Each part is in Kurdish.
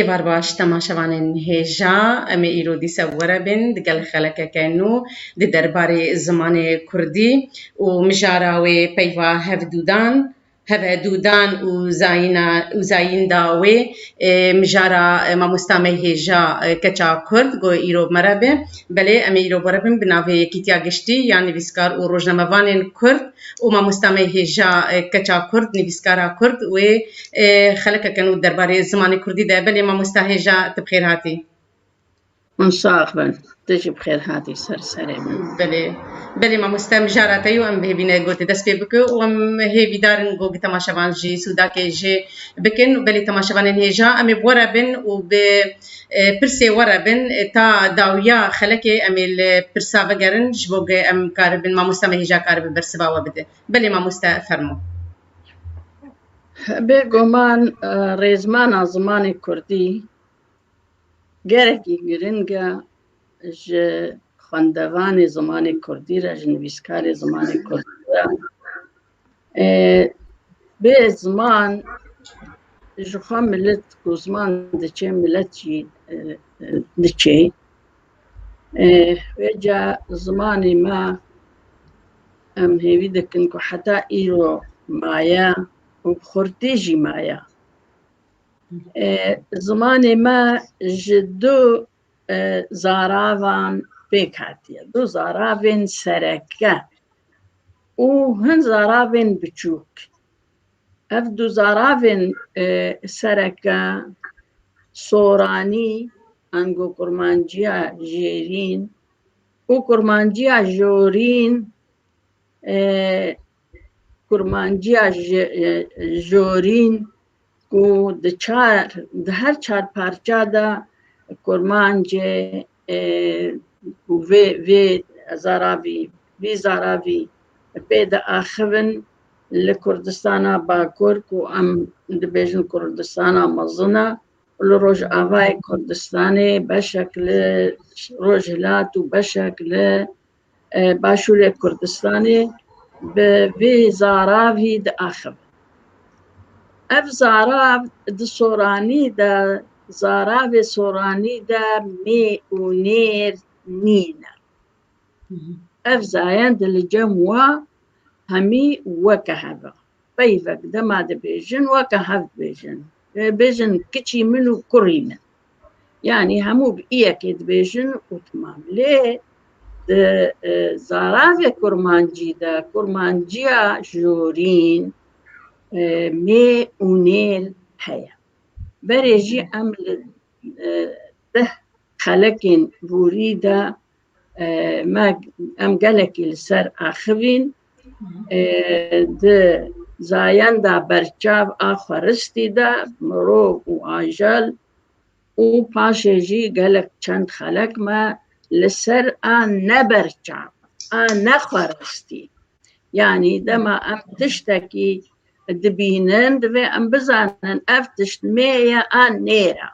Êvar baş temaşevanên hêja, em ê îro dîsa were bên digel xelekeke nû di derbarê zimanê kurdî û mijara wê peyva hevdûdan, hevedûdan û zayîna û zayînda wê. Mijara mamosta me hêja keça kurd got îro mere be. Belê em ê îro were bin bi navê Yekîtiya Giştî ya Nivîskar û Rojnamevanên Kurd û mamosta me hêja keça kurd, nivîskara kurd wê xeleke kin û derbarê zimanê kurdî de belê mamosta hêja tu bi xêr hatî. Hûn sax bin. Tu jî bi xêr hatî ser serê min. Belê. Belê mamosta em jara te yo em hêvîne gotê dest pê bike û em hêvî darin got bi temaşevan jî sûdakê jê bikin û belê temaşevanên hêja em ê bi we re bin û bi e, pirsê we re bin e, ta dawiya xelekê em ê li pirsa vegerin ji bo ku em karibin mamosta me hêja karibe bersiva we bide. Belê mamosta fermo. Bêguman rêzmana zimanê Kurdî gerekî girîng e ji xwendevanê zimanê Kurdî re, ji nivîskarê zimanê Kurdî re. Bê ziman ji xwe milet ku ziman diçe milet jî diçe. Wêca zimanê me em hêvî dikin ku heta îro maye û bi xurtî jî maye. Zimanê me ji du zaravan pêk hatiye. Du zaravên sereke û hin zaravên biçûk. Ev du zaravên sereke soranî ango kurmanciya jêrîn û kurmanciya jorîn kurmanciya jorîn ku di çar di her çar parça de kurmancê û vê vê zaravî vî zaravî pê diaxivin li Kurdistana Bakur ku em dibêjin Kurdistana mezin e û li Rojavayê Kurdistanê beşek li Rojhilat û beşek li Başûrê Kurdistanê bi vê zaravî diaxivin. Ev zarav di soranî de zaravê soranî de mê û nêr nîn e. Ev zayend li cem wa hemî weke hev e. Peyvek dema dibêjin weke hev dibêjin. Dibêjin kiçî min û kurî min. Yani hemû bi iyekê dibêjin û timam. Lê di zaravê kurmancî de kurmanciya jorîn mê û nêl heye. Berê jî em li deh xelekên borî de Me em gelekî li ser axivîn di zayenda berçav a xweristî de mirov û ajel û paşê jî gelek çend xelek me li ser a neberçav a nexweristî Yanî dema em tiştekî dibînin divê em bizanin ev tişt mê ye an nêra.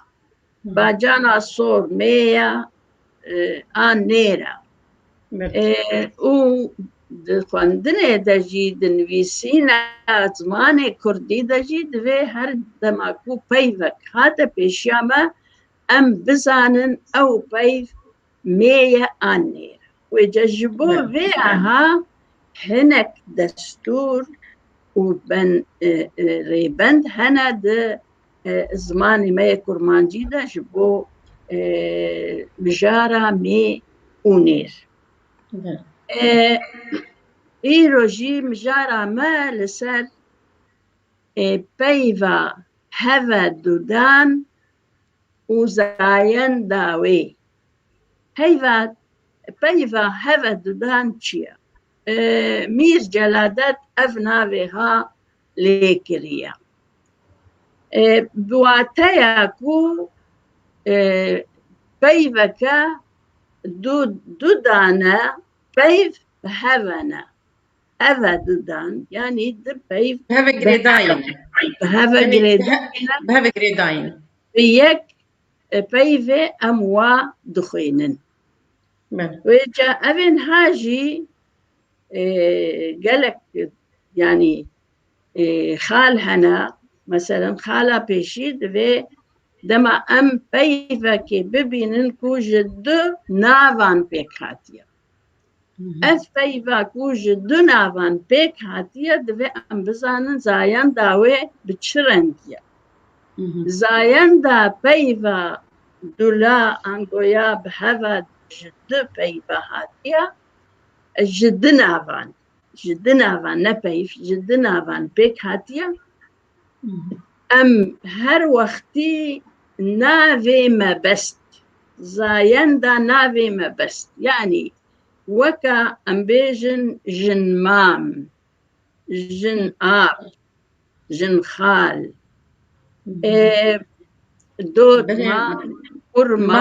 Bacana sor mê ye an nêra. û di xwendinê de jî di nivîsîna zimanê Kurdî de jî divê her dema ku peyvek hate pêşiya me em bizanin ew peyv mêye an nêr. Wê ca ji bo vê aha hinek destûr û ben rêbend hene di zimanê me yê kurmancî de ji bo mijara mê û nêr. Îro jî mijara me li ser peyva heve dudan û zayenda wê. Peyva peyva heve dudan çi ye? Mîr Celadet ev navê ha lêkiriye. Bi wateya ku peyveke du du dane peyv bi heve ne. heve didan yanî di peyv bi heve girêdayîn bi heve girêdayîn bi heve girêdayîn bi yek e, peyvê em wa dixwînin wê ca evên ha jî e, gelek yanî e, xal hene meselen xala pêşî divê dema em peyvekê bibînin ku ji du navan pêk hatiye Ev peyva ku ji du navan pêk hatiye divê em bizanin zayenda wê bi çi rengî ye. Zayenda peyva dula angoya bi heva ji du peyva hatiye ji du navan ji du navan ne peyv ji du navan pêk hatiye. Em her wextî navê me best zayenda navê me best yanî weka em bêjin jin mam, jin ab, jin xal ê dotma kurma.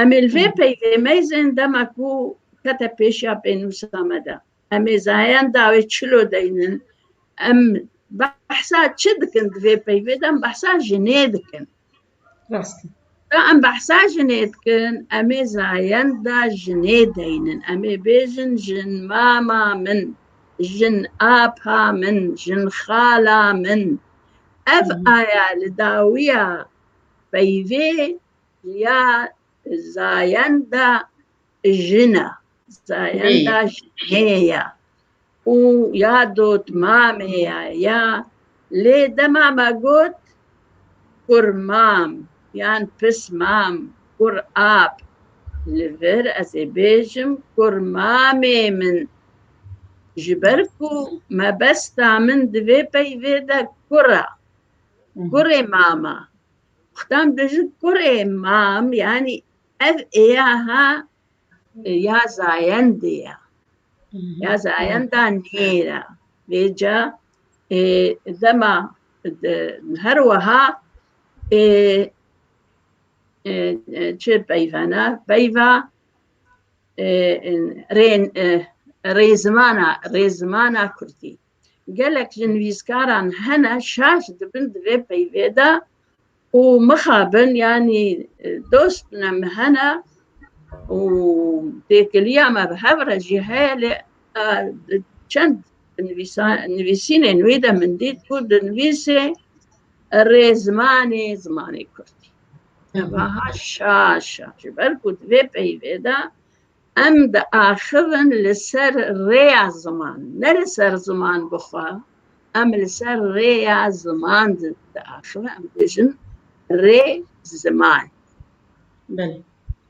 Em ê li vê peyvê meyzên dema ku kete pêşiya pênûsa me de. Em ê zayayên dawê çilo deynin. Em behsa çi dikin di vê peyvê de em behsa jinê dikin. Rast e. Da em behsa jinê dikin, em ê zayayên da jinê deynin. Em ê bêjin jin mama min, jin apa min, jin xala min. Ev aya li dawiya peyvê Ya zayenda jina, zayenda jina û ya dotmamê ya ya lê dema me got kur mam yan pis mam kur ap li vir ez ê bêjim kur mamê min ji ber ku mebesta min di vê peyvê de kur e. Kurê mama Xdan biji kurê mam yani ev êya ha ya zayendê ya. Ya zayenda nêra. Vêca e, dema de, her weha e, e, e, çi peyvana peyva e, e, rê, e, rêzimana rêzimana Kurdî. Gelek li nivîskaran hene şaş dibin di vê peyvê de û mixabin yanî dost ne min hene û têkiliya me bi hev re jî heye lê çend nivîsînên wî de min dît ku di nivîsê rê zimanê zimanê kurdî. Evaha şaş şaş ji ber ku di vê peyvê de Em diaxivin li ser rêya ziman, ne li ser ziman bi xwe, em li ser rêya ziman diaxivin, em dibêjin rê ziman. Belê.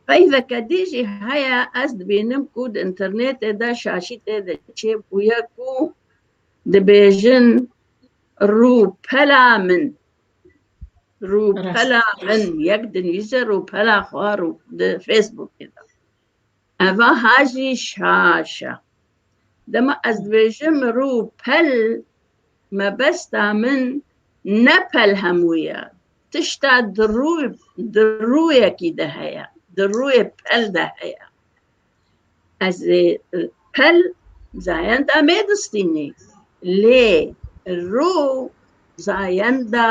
Peyveke dî jî heye, ez dibînim ku di înternêtê de şaşî tê de çêbûye ku dibêjin rûpela min. Rûpela min yek dinivîse rûpela xwe rû di Facebookê de. Eva hajî şaş e. Dema ez dibêjim rûpel mebesta min ne pel hemû ye. Tişta di rû di rûyekî de heye. Di rûyê pel de heye. Ez ê pel zayenda me distînê lê rû zayenda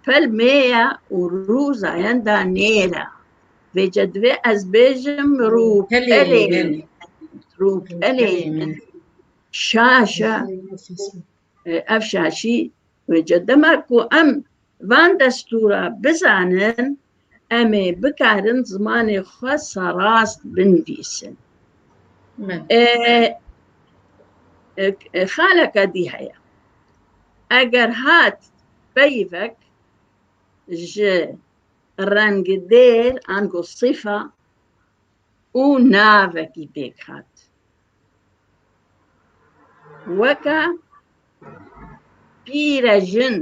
pel me ye û rû zayenda nêr e. Vê ce divê ez bêjim rû pelê min. Rû pelê min. Şaş e. Ev şaşî wêce dema ku em van destûra bizanin em ê bikarin zimanê xwe serast binivîsin. Xaleke dî heye. Eger hat peyvek ji rengê dêr ango sîfa û navekî pêk hat. Weke pîrejin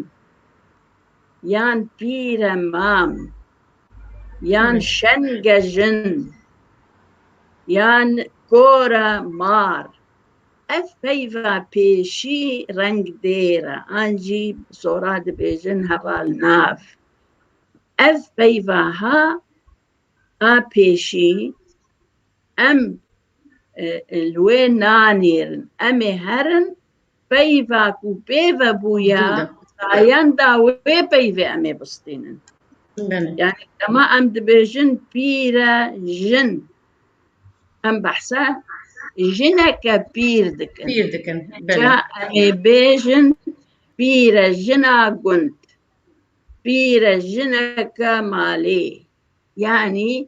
yan pîremam yan şengejin yan kora mar ev peyva pêşî reng dêr e an jî sora dibêjin heval nav ev peyva ha a pêşî Em li wê nanêrin. Em ê herin peyva ku pê ve bûye sayenda wê peyvê em ê bistînin. Yani dema em dibêjin pîre jin em behsa jineke pîr dikin. Pîr dikin. Ca em ê bêjin pîre jina gund. Pîre jineke malê. Yani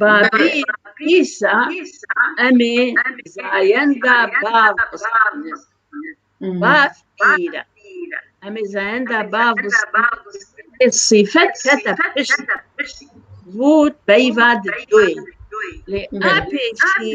Babî Îsa em ê zayenda bav bistînin. Bav pîr e. Em ê zayenda bav bistînin. Sîfet kete pişt vût peyva di doyê. Lê a pêşî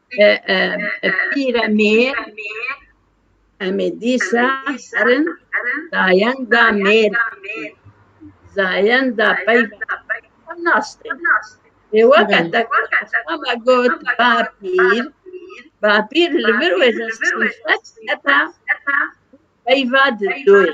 Pîre mêr em ê dîsa herin zayenda mêr zayenda peyva nas tê. Ê weke te ama got bapîr bapîr li vir wê ji sîfet heta peyva di doyê.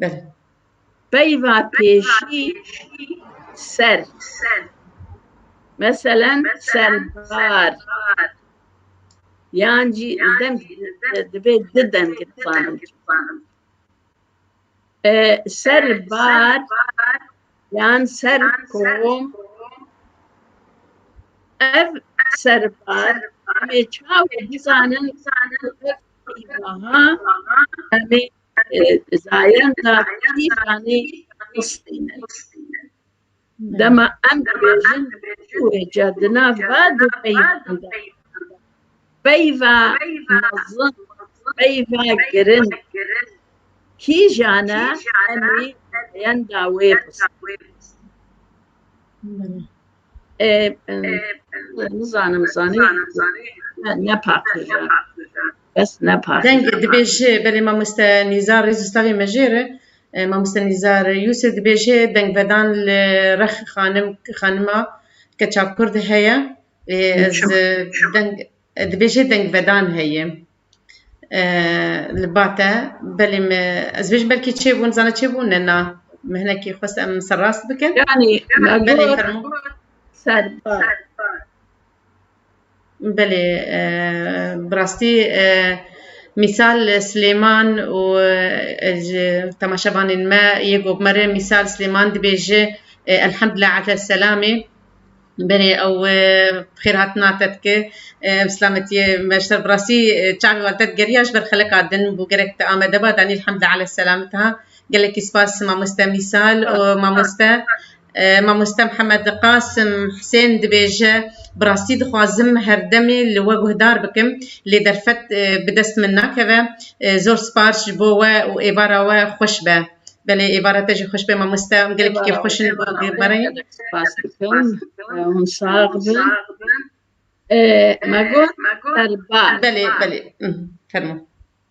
Belê. Peyva pêşî ser. Meselen serbar. Yan jî dem divê di dem gifanim. Serbar yan ser kom ev serbar me çaw bizanin ev peyvaha em ê Zayen da îranî histîne. Dema em dibêjin wêca di nav va du peyvan de. Peyva mezin, peyva girin. Kîjane emî zayen da wê bisin. Nizanim zanî ne paqij e. Kes ne par. Deng dibêje belê mamoste Nîzar rêz ustavê me jê re e, mamoste Nîzar Yûsif dibêje dengvedan li rex xanim xanima keça kurd heye ê ez e, deng e, dibêje dengvedan heye e, li bate belê me ez bêjim belkî çêbûn zana çêbûn ne na me hinekî xwest em serrast bikin Yani belê Nagor fermo Serba. Belê, bi rastî mîsal Silêman û ji temaşevanên me yê ku me rê mîsal Silêman dibêje Elhamdulillah ala selamê. Belê ew bi xêr hatina te dike ev silametiyê beşdar bi rastî çavê wan te digeriya ji ber xelika din bû gerek te Amede ba danî Elhamdulillah ala selamê te ha. Gelekî spas mamoste mîsal û mamoste. Mamoste Mihemed Qasim Husên dibêje, Bi rastî dixwazim her demê li we guhdar bikim lê derfet bi dest min nakeve. Zor sipar ji bo we û êvara we xweş be. Belê êvara te jî xweş be mamoste. Em gelekî kêfxweş in bo vê barayê. Spas dikim. Hûn sax bin. Me got serbaz. Belê, belê. Fermo.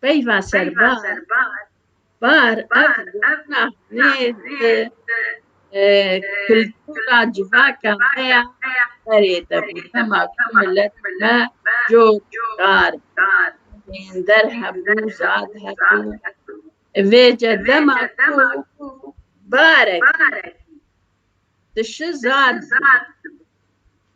Peyva serbar bar ev gotina nê di kultura civaka me ya berê de bû. Dema ku milet me cor dar bû, ênder hebû, zad hebû. Vêce dema ku barekî dişi zad dibû.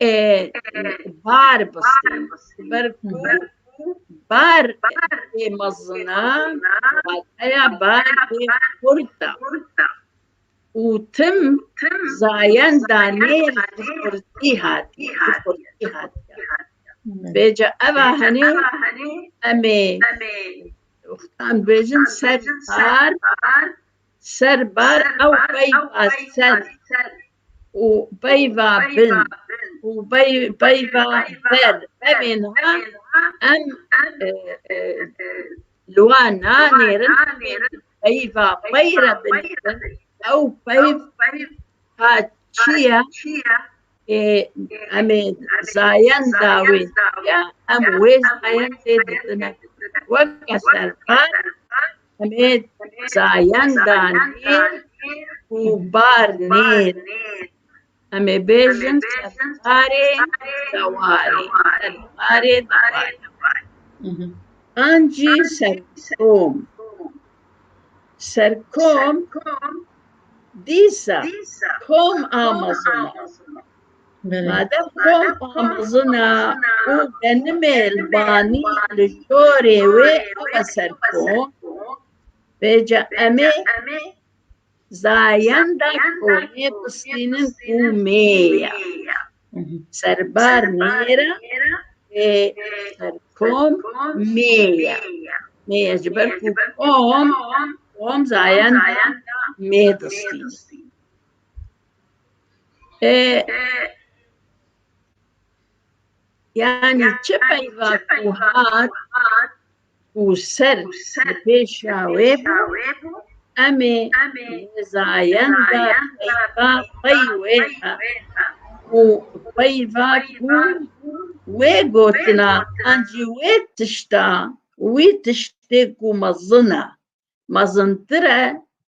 e, bar bistî ber ku bar ê mezina wateya bar ê xurt e û tim zayen danê ji xurtî hatiye ji xurtî hatiye bêje eva henê em ê wextan bêjin ser bar ser bar ew qey baser û peyva bin û peyva ber evên ha em li wan nanêrin peyva pey re binêrin ew peyv ha çi ye ê em ê zayenda wê çi ye em wê zayendê didin weke serbar Emê zayenda nêr û bar nêr emê bêjin serdarê dewarê, serdarê dewarê. Ancî serkom, serkom dîsa kom a mezin e. Madem Tom Amazona û benimê li banî li jorê wê ewe ser kom, bêca em ê zayenda komê bistînin û mêya serbar nêra ê ser kom mêya. Mêya ji ber ku kom, kom zayenda mê distînin. Yani çi peyva ku hat û ser li pêşa wê bû em ê nizayenda peyva xwey wê be û peyva ku wê gotina an jî wê tişta wî tiştê ku mezin e mezintir e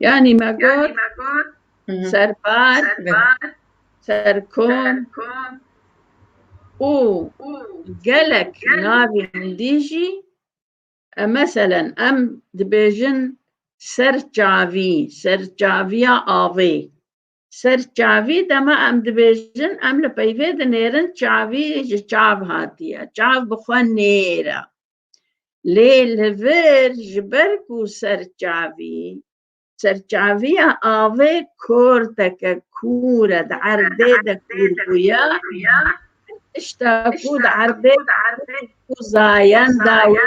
Yani me got serbar be, serkom û gelek navên dî jî e, meselen em dibêjin serçavî, serçaviya avê. Ser çavî dema em dibêjin em li peyvê dinêrin çavî ji çav hatiye. Çav bi xwe nêr e. Lê li vir ji ber ku ser çavî serçaviya avê korteke kûr e di erdê de kûr bûye tişta ku di erdê ku zayen dawî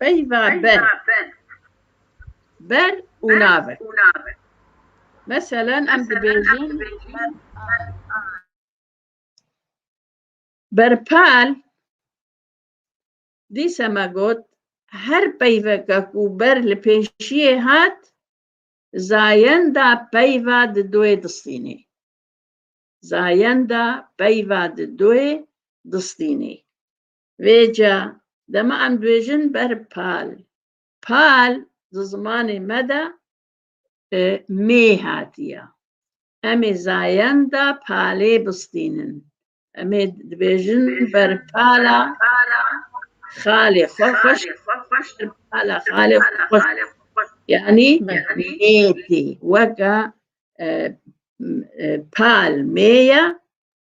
Peyva ber. Ber û nabe. Meselen em dibêjin berpal dîse me got her peyveke ku ber li pêşiyê hat zayenda peyva di doyê distînê. Zayenda peyva di doyê distînê. Vê ca dema em dibêjin ber pal. Pal di zimanê me de e, mê hatiye. Em ê zayenda palê bistînin. Em ê dibêjin ber pala xalê xwe xweş ber pala xalê xwe xweş yanî mêtê weka e, e, pal mêye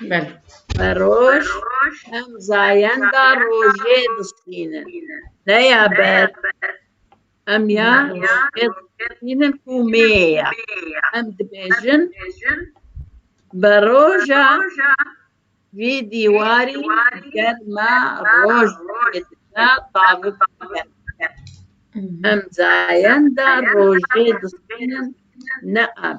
Bel. Roj, em zayenda rojê dişînin. Deya ber, em ya rojê dişînin ku mêya. Em dibêjin, bi roja vî dîwarî ger me roj dikevina tavik dibe. Em zayenda rojê dişînin ne em.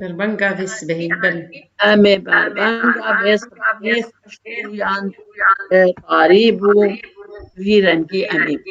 Berbenga vê sibehê bin. Em ê berbenga vê sibehê xweş bûyan tarî bû vî rengî em ê bû.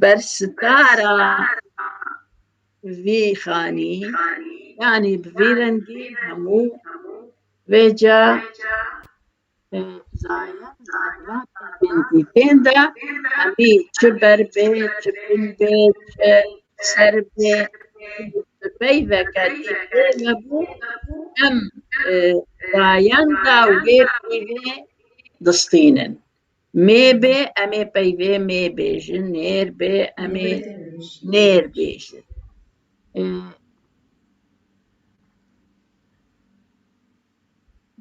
Bersitara vî xanî yanî bi vî rengî hemû vê ca dîtên de hemî çi ber bê çi bin bê çi ser bê bi peyveke dîtê hebû em rayenda wê pîvê distînin. Mêbê em ê peyvê mêbêjin, nêrbê em ê nêrbêjin.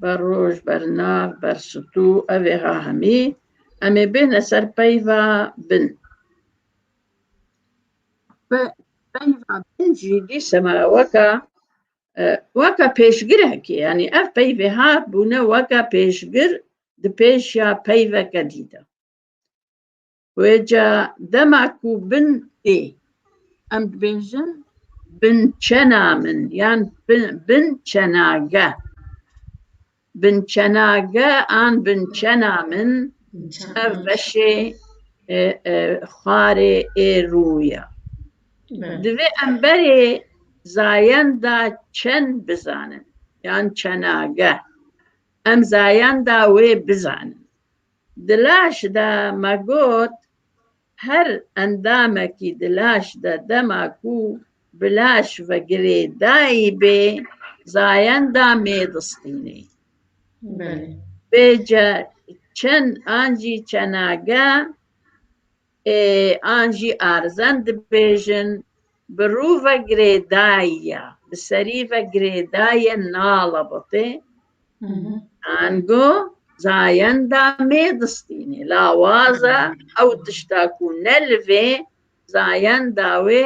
Ber roj, ber nav, ber stû, ev ê ha hemî em ê bêne ser peyva bin. Peyva bin jî dîsema weka weka pêşgirekê yanî ev peyvê ha bûne weka pêşgir di pêş ya peyveke dî de. Wêca dema ku bin tê em dibêjin bin çena min yan bin çenage. Bin çenage an bin çena min ev beşê e, e, xwarê ê rûya. Divê em berê zayenda çen bizanin yan çenage. Em zayenda wê bizanin. Di laş de me got her endamekî di laş de dema ku bi laş ve girêdayî bê zayenda mêdistînê. Bê ce çend an jî çenage an jî arzen dibêjin, bi rû ve girêdayî ya, bi serî ve girêdayê nala botê, ango zayenda mê distînê. Lawaza ew tişta ku ne li vê zayenda wê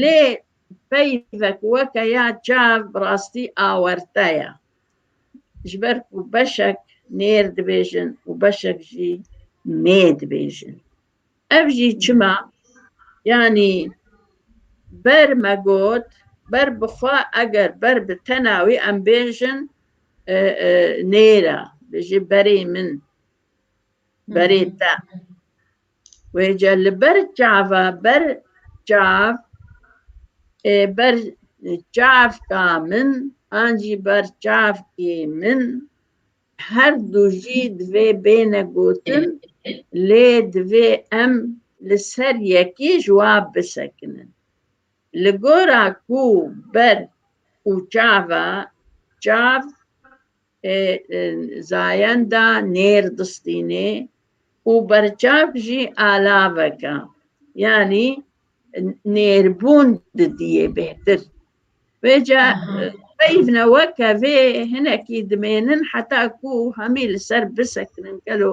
Lê peyvek weke ya çav bi rastî awerte ye. Ji ber ku beşek nêr dibêjin û beşek jî mê dibêjin. Ev jî çima? Yanî ber me got ber bi xwe eger ber bi tena wî em bêjin nêr e. Bijî berê min, berê te. Wêce li ber çava ber çav ê ber çavka min an jî ber çavkê min her du jî divê bêne gotin lê divê em li ser yekê jwab bisekinin. Li gora ku ber û çava çav Ê zayenda nêr distînê û berçav jî alaveka yanî nêrbûn didîyê bêhtir. Vê ca peyvne weke vê hinekî dimênin heta ku hemî li ser bisekinin gelo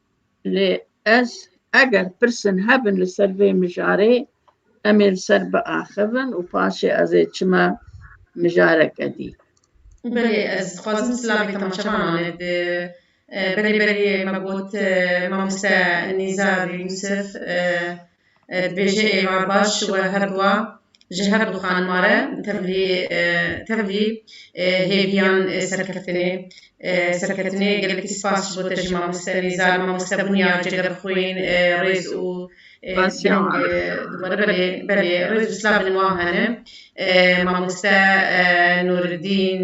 Lê ez eger pirsên hebin li ser vê mijarê em ê li ser biaxivin û paşê ez ê çime mijareke dî. Belê ez dixwazim silavê temaşevanan e di berê berê me got mamoste Nizar Yusuf. Bêje êvar baş we her dua ji her du xanima re tevlî tevlî hêviyan serkeftinê serketinê gelekî spas ji bo te ji mamoste nîzar mamoste bûniya cegerxwîn rêz û Pasyan dibare belê belê rêz û slavên wan hene mamoste Nûriddîn.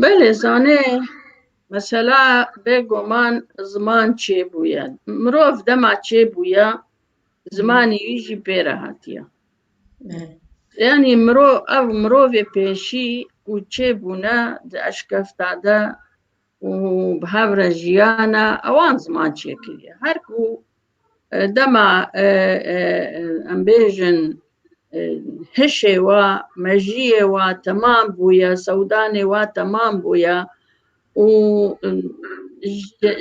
Belê zanê mesela bêguman ziman çêbûye. Mirov dema çêbûye zimanî wî jî pê re hatiye. Yanî mirov ev mirovê pêşî ku çêbûne di eşkefta de û bi hev re jiyana ewan ziman çêkiriye. Her ku dema em bêjin hişê wa, mejiyê wa temam bûye, sewdanê wa temam bûye û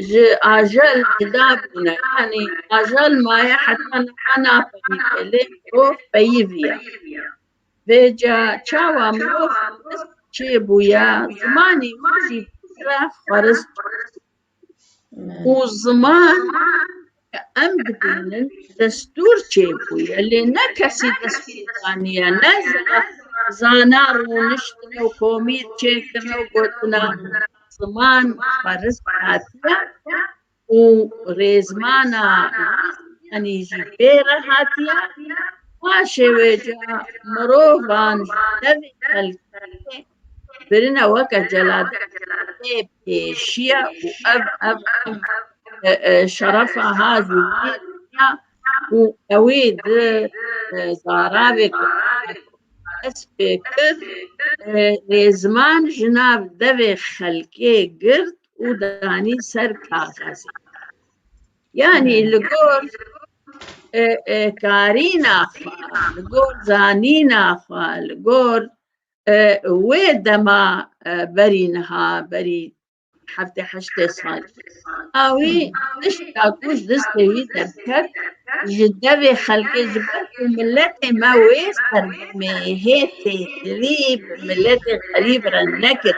ji ajel cuda bûne. Yanî ajel maye heta niha nafemîne lê mirov peyivî ye. Vêca çawa mirov xwirist çêbûye, zimanê wî jî pîre xwirist bû. Û ziman ke em dibînin destûr çêbûye lê ne kesî destûr daniye ne zana rûniştine û komîr çêkirine û gotina ziman xwirist hatiye. û rêzmana Rûsyanî jî bê re hatiye, paşê wê ca mirovan ji devê xelkê birine weke celadê bê pêşiya û ev ev şerefa ha ji wî re ya û ewê di zaravê Kurdan dest pê kir, rêzman ji nav devê xelkê girt û danî ser kaxezê. Yanî li gor e, e, karîna xwe, li gor zanîna xwe, li gor e, wê dema e, berî niha berî heftê heştê sal awî tişta ku ji destê wî derket ji devê xelkê ji ber ku miletê me wê sergimê hê têkilî bi miletê xerîb re nekir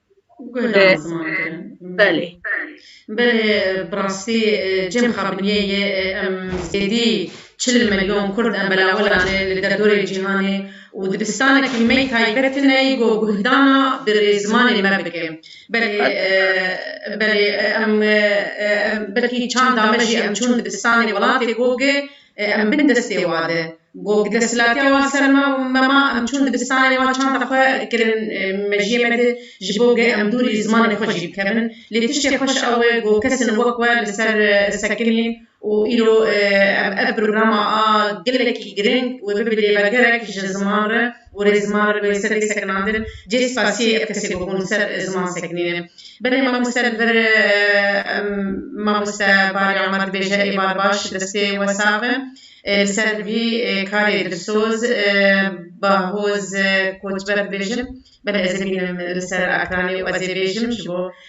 Gulan ziman kirin. Belê. Belê bi rastî cem xabiniyê yê em zêdî çil milyon kurd em belawela ne li derdorê cîhanê û dibistanekî me taybet tine yî ku guhdana bi zimanê me bike. Belê belê em belkî çanda me jî em çûn dibistanê welatê ku Ê em bin destê wa de. Gog desthilatiya wan ser me mema em çûn dibistanê wan çanda xwe kirin mejiyê me de ji bo ge em dûrî zimanê xwe jî bikevin. Lê tiştê xweş ew e ku kesên wek we li ser sekinîn û îro ev programa a gelekî giring û bibe lêvegerek ji ziman re. gorê ziman re bi sedê sekinandin cê spasiyê ev kesê goh hûn ser ziman sekinîne. Belê mamoste li vir mamoste Barî Amer dibêje ê bar baş destê we sax e li ser vî karê dilsoz Bahoz Koçber dibêjin belê ez ê bînim li ser ekranê û ez ê bêjim ji bo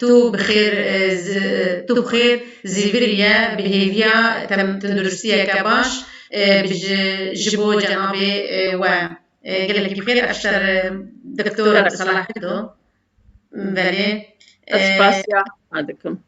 Tu bi xêr tu bi xêr zî biriye bi hêviya tenduristiyeke baş bi ji bo cenabê we gelekî bi xêr ev şer doktor Abdulsalah Hikdo belê. Ez spasiya dikim.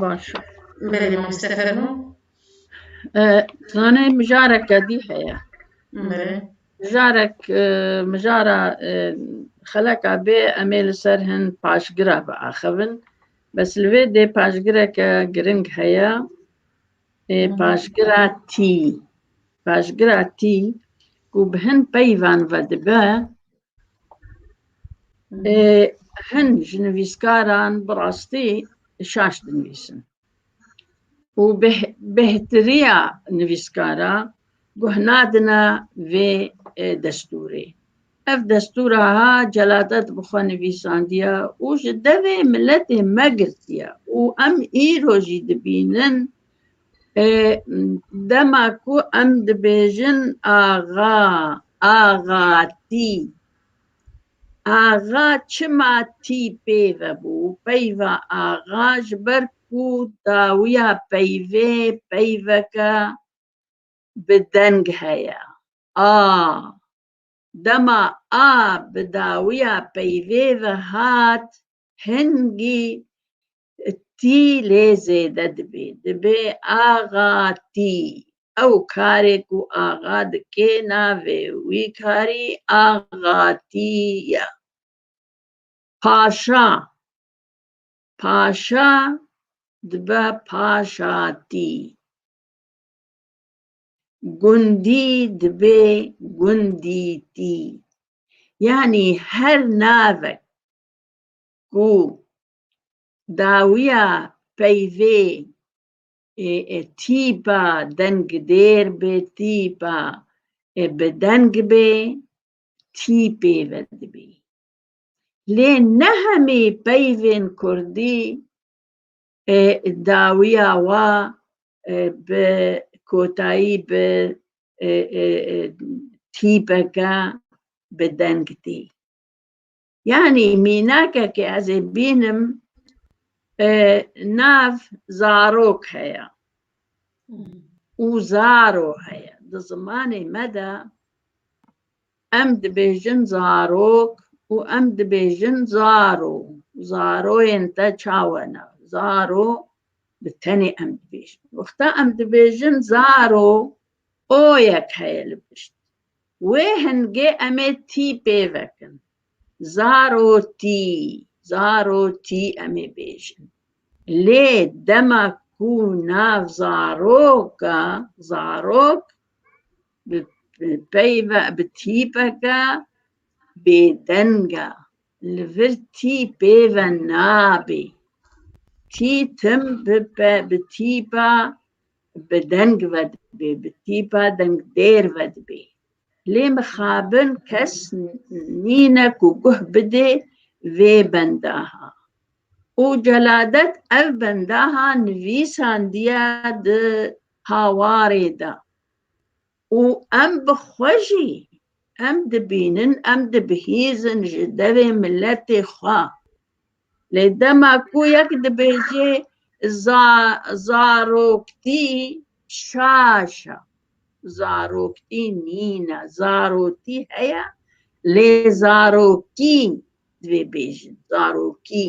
باş Belê mamste fermo. Zanê mijarek gedî heye. Belê. Mijarek mijara xeleka bê em ê li ser hin paşgira biaxivin. Bes li vê dê paşgireke giring heye. Ê paşgira tî. Paşgira tî ku bi hin peyvan ve dibe Hin ji nivîskaran bi rastî şaş dinivîsin û bêhtirîya nivîskara guh nadine vê destûrê. Ev destûr aha celadet bi xwe nivîsandiye û ji devê miletê me girtiye û em îro jî dibînin Dema ku em dibêjin axa, axa tî. Axa çima tî peyve bû? Peyva axa ji ber ku dawiya peyvê peyveke bi deng heye. A, dema a bi dawiya peyvê ve hat, hingî Tî lê zêde dibê, dibê axa tî. Ew karê ku axa dikê navê wî karî axa tî ye. Paşa, paşa dibe paşa tî. Gundî dibê gundî tî. Yanî her navek ku dawiya peyvê ê ê tîpa dengdêr bê tîpa ê bi deng bê tîpê ve dibî. Lê ne hemî peyvên kurdî ê dawiya wa bi kotayî bi tîpeke bi deng tê. Yanî mînakekê ez ê bînim nav zarok heye û zaro heye. Di zimanê me de em dibêjin zarok û em dibêjin zaro. Zaroyên te çawe ne? Zaro bi tenê em dibêjin. Wexta em dibêjin zaro oyek heye li pişt. Wê hingê em ê tî pêvekin. Zarotî, zarotî em ê bêjin. Lê dema ku nav zarok a, zarok bi peyve, bi tîpeke bêdeng a, li vir tî pêve nabê. Tî tim bi tîpa bi deng ve dibê, bi tîpa deng dêr ve dibê. Lê mixabin kes nîne ku guh bidê vê bendaha. Û Celadet ev bendaha nivîsandiye di hawarê de. û em bi xwe jî em dibînin em dibihîzin ji devê miletê xwe lê dema ku yek dibêje zaroktî şaş e zaroktî nîne zarotî heye lê zarokî divê bêjin zarokî.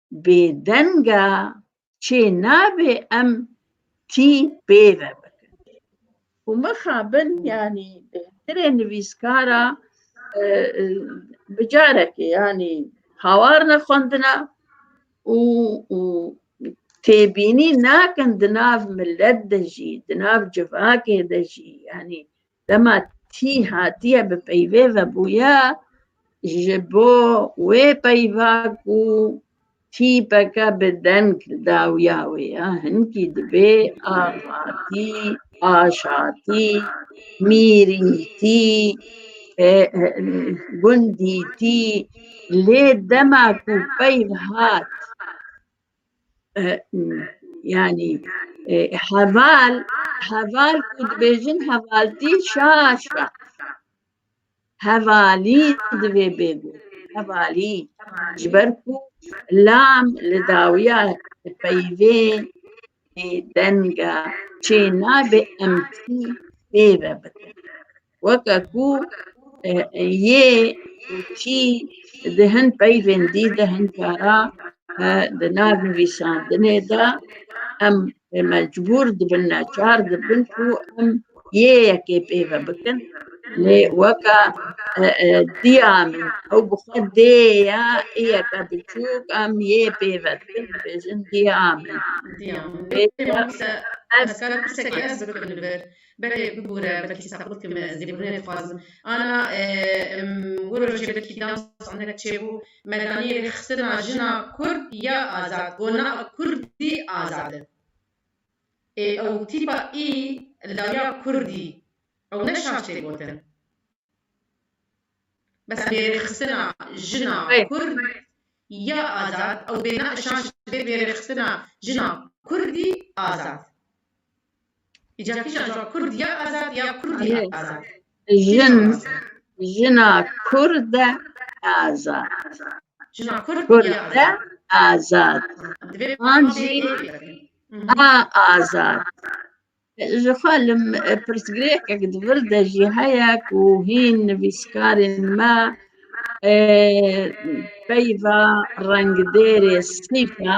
bêdenga çê nabê em tî pê ve bikin. Û mixabin yanî bêhtirê nivîskara e, e, bi carekê yanî hawar ne xwendina û û têbînî nakin di nav millet de jî, di nav civakê de jî yanî Dema tî hatiye bi peyvê vebûye ji bo wê peyva ku tîpeke bi deng dawiya wê ya hinkî dibê axatî, aşatî, mîrîtî, gundîtî lê dema ku peyv hat yani heval heval ku dibêjin hevaltî şaş be hevalî divê bê got hevalî ji ber ku lam li dawiya peyvê denga çê nabê em tî pê ve bikin weke ku yê û çî di hin peyvên dî de hin cara di nav nivîsandinê de em mecbûr dibin neçar dibin ku em yê yekê pêve bikin lê weke diya min ew bi xwe dê ye yeke biçûk em yê pêve dikin dibêjin diya min. Diya min. Hezkar pirseke ez bikim li vir. Belê bibûre belkî saqlît kim ez lêbûrînê dixwazim. Ana em wir rojê belkî dam standek çêbû medanîyê rêxistina jina kurd ya azad go na kurdî azad in. Ê ew tîpa î li dawiya kurdî ew ne şaş tê gotin. Bes em bê rêxistina jina kurd ya azad ew bê na şaş bê bê rêxistina jina kurdî azad. Îca kîjan ji wan Kurd ya azad ya Kurdî Ye. azad. Jin, jina Kurd e azad. Jina Kurd Kurd ya e azad. azad. Divê An jî Mhm. a azad. Ji xwe li m- pirsgirêkek di vir de jî heye ku hîn nivîskarên me e, peyva rengdêrê sîfa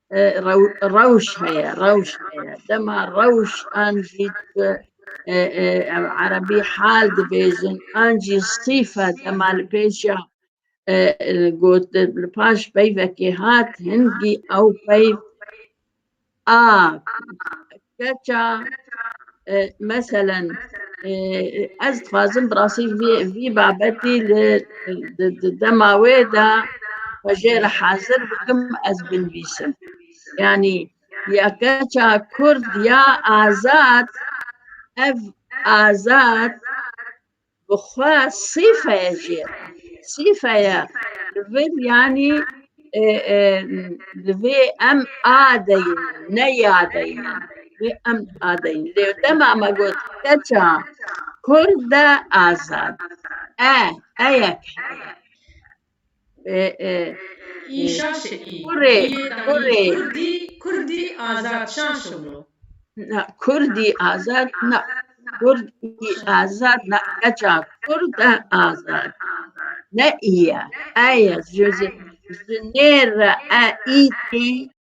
rewş heye rewş heye dema rewş an jî erebî hal dibêjin an jî sîfe dema li pêşiya got li paş peyvekê hat hingî ew peyv a Keça meselen ez dixwazim bi rastî vî babetî li dema wê de xwe jê re hazir bikim ez binivîsim. Yanî ya keça kurd ya azad ev azad Bixwe sîfeye jî ye. Sîfeye li vir yanî li vê em a deyînin, ne ya deyînin. Vê em a deyînin. Lê dema me got keça kurd e azad e, eyek heye. Kurê, kurê. Kurdî, kurdî azad şan şumru. Na, kurdî azad na. Kurdî azad na. Keça kurd e azad. Ne î ye. E ye. Ji nêr re e î tê.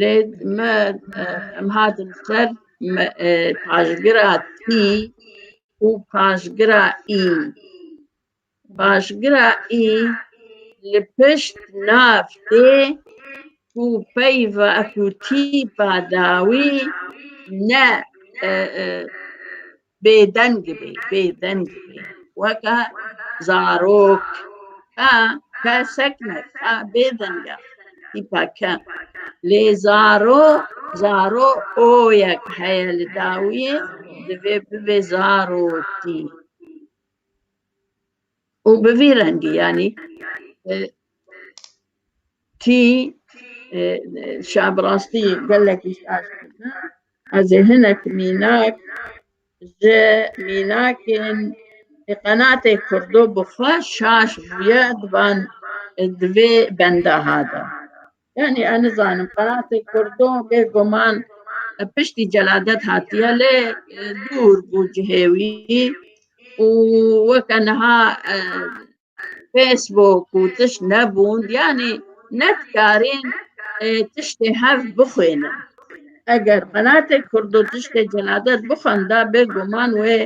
Lê me em hatin ser paşgira tî û paşgira î. Paşgira î li pişt nav tê û peyva ku tîpa dawî ne Bêdeng bê, bêdeng bê. Weke zarok. Ke, ke sekne, ke bêdeng e. Tîpa ke. Lê zaro, zaro oyek heye li dawiyê divê bibê zarotî. û bi vî rengî yanî e, tî e, şab rastî gelek îst aşk dike ez ê hinek mînak ji mînakên ê qenatê kurdo bi xwe şaş bûye di van e, di vê bendaha de Yani ez nizanim qeratê kurdo bêguman piştî celadet hatiye lê dûr bû cihê wî û weke niha Facebook û tişt nebûn yanî ne dikarîn tiştê hev bixwînin. eger qenatê kurdo tiştê cenadet bixwenda bê guman wê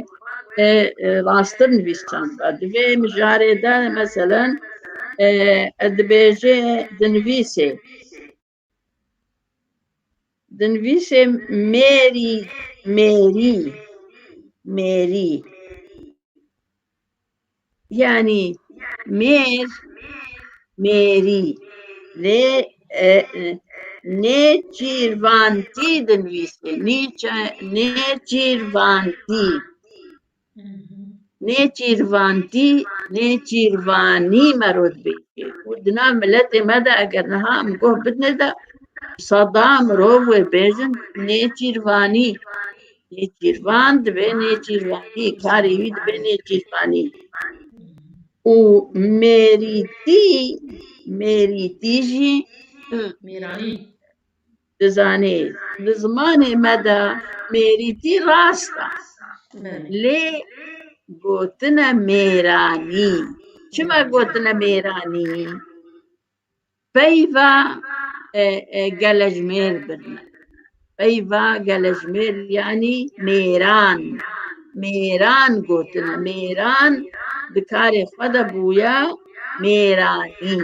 e, e, rastir nivîsanda. Divê mijarê de meselen e, e, dibêjê dinivîsê dinivîsê mêrî mêrî mêrî Yani mêr mêrî lê e, nêçîrvantî dinivîsê nêçîrvantî nêçîrvantî nêçîrvanî me ro dibêjê û dina miletê me de eger niha em goh bidine de seda mirov wê bêjin nêçîrvanî Nêçîrvan dibe nêçîrvanî, karê wî dibe nêçîrvanî. Û mêrîtî, mêrîtî jî Mêranî. dizanê. Di zimanê me de mêrîtî rast e. Belê. Lê gotine mêranî. Çima gotine mêranî? Peyva gelejmêr birine. Peyva gelejmêr yanî mêran. Mêran gotine. Mêran di karê xwe de bûye mêranî.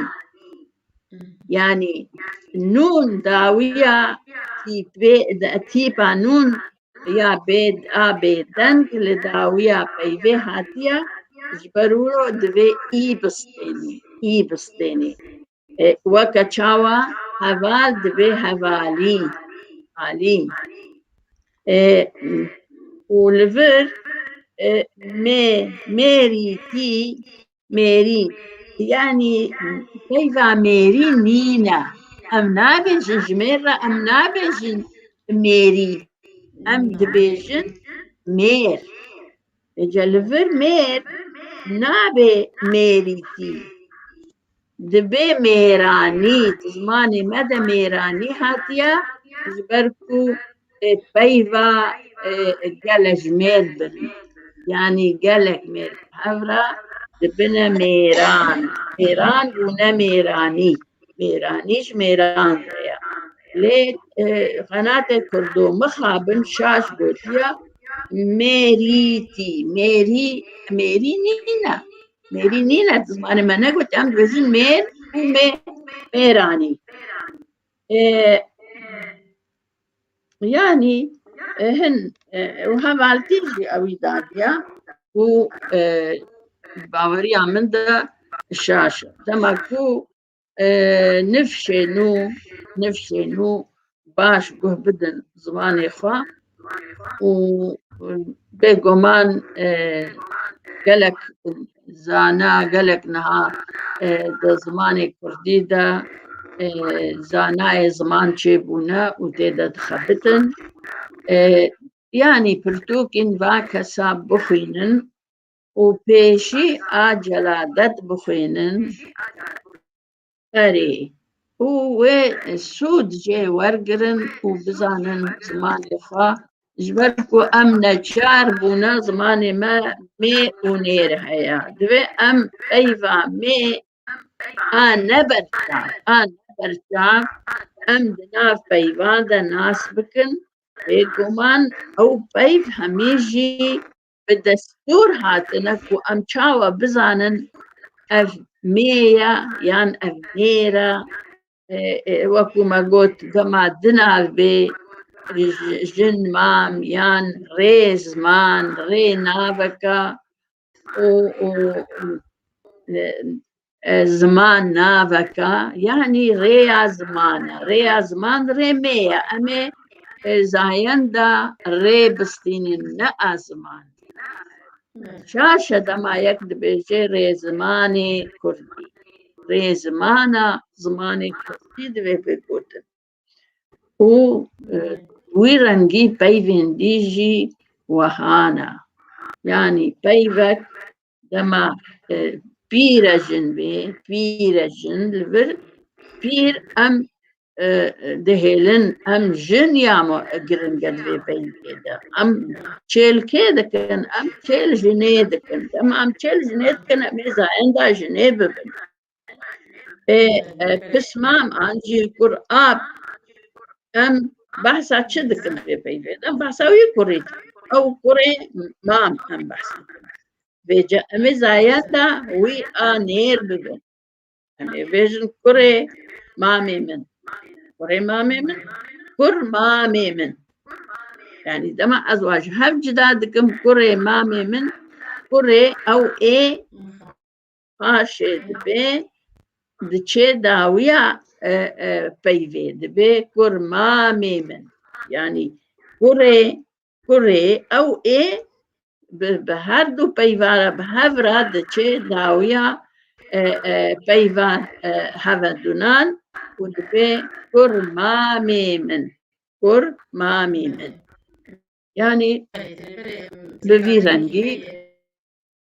Yanî nûn dawîya tîpê tîpa nûn ya bêd a bêdeng li dawiya peyvê hatiye ji ber wilo divê î bistênî î bistênî e, weke çawa heval divê hevalî alî e, û li vir e, mê mêrî tî Mêrî yanî peyva mêrî nîne. Em nabêjin ji mêr re em nabêjin mêrî. Em dibêjin mêr. Êca li vir mêr nabê mêrîtî. Dibê mêranî. Di zimanê me de mêranî hatiye ji ber ku Peyva gelek ji mêr bin. Yanî gelek mêr bi hev re dibine mêran. Mêran û ne mêranî. Mêranî ji mêran re ye. Lê xenatê Kurdo mixabin şaş gotiya mêrîtî. Mêrî mêrî nîne. Mêrî nîne zimanê me negotiye. Em dibêjin mêr û mêranî. Yani hin û hevaltî jî ewî dadiya û baweriya min de şaş dema ku nifşê nû nifşê nû baş guh bidin zimanê xwe û bêguman gelek Zana gelek niha e, di zimanê Kurdî de e, zanayê ziman çêbûne û tê de dixebitin. E, yanî pirtûkîn va kesa bixwînin û pêşî a celadet bixwînin Erê. Û wê sûd jê wergirin û bizanin zimanê xwe ji ber ku em neçar bûne zimanê me mê û nêr heye. Divê em peyva mê a neberçav a neberçav em di nav peyvan de nas bikin. Bêguman ew peyv hemî jî bi destûr hatine ku em çawa bizanin ev mêya yan ev mêra wekû me got dema dinav bê jin mam yan rê ziman rê naveka û ziman naveka yanî rêya ziman e rêya ziman rê me ye em ê zayenda rê bistînin ne a ziman şaşe dema yek dibêje rê zimanê kurdî rê zimana zimanê kurdî divê bêgotin û e, wî rengî peyvên dî jî wehana yanî peyvek dema e, pîre jin bê pîre jin li vir pîr em e, dihêlin em jin ya me giringe di vê peyvê de em çêlkê dikin em çêl jinê dikin dema em çêl jinê dikin em ê zayenda jinê bibin ê pisman an jî kur a em behsa çi dikin vê peyvê de behsa wî kurê ew kurê mam em behsa vê ca emê zayeta wî a nêr bibin em ê bêjin kurê mamê min kurê mamê min kur mamê min yani dema ez waj hev cida dikim kurê mamê min kurê ew ê paşê dibe diçe dawiya e, e, peyvê dibe kur mamê min yanî kurê kurê ew ê bi bi her du peyvara bi hev re diçe dawiya e, e, peyva e, hevedunan û dibe kur mamê min kur mamê min yanî bi vî rengî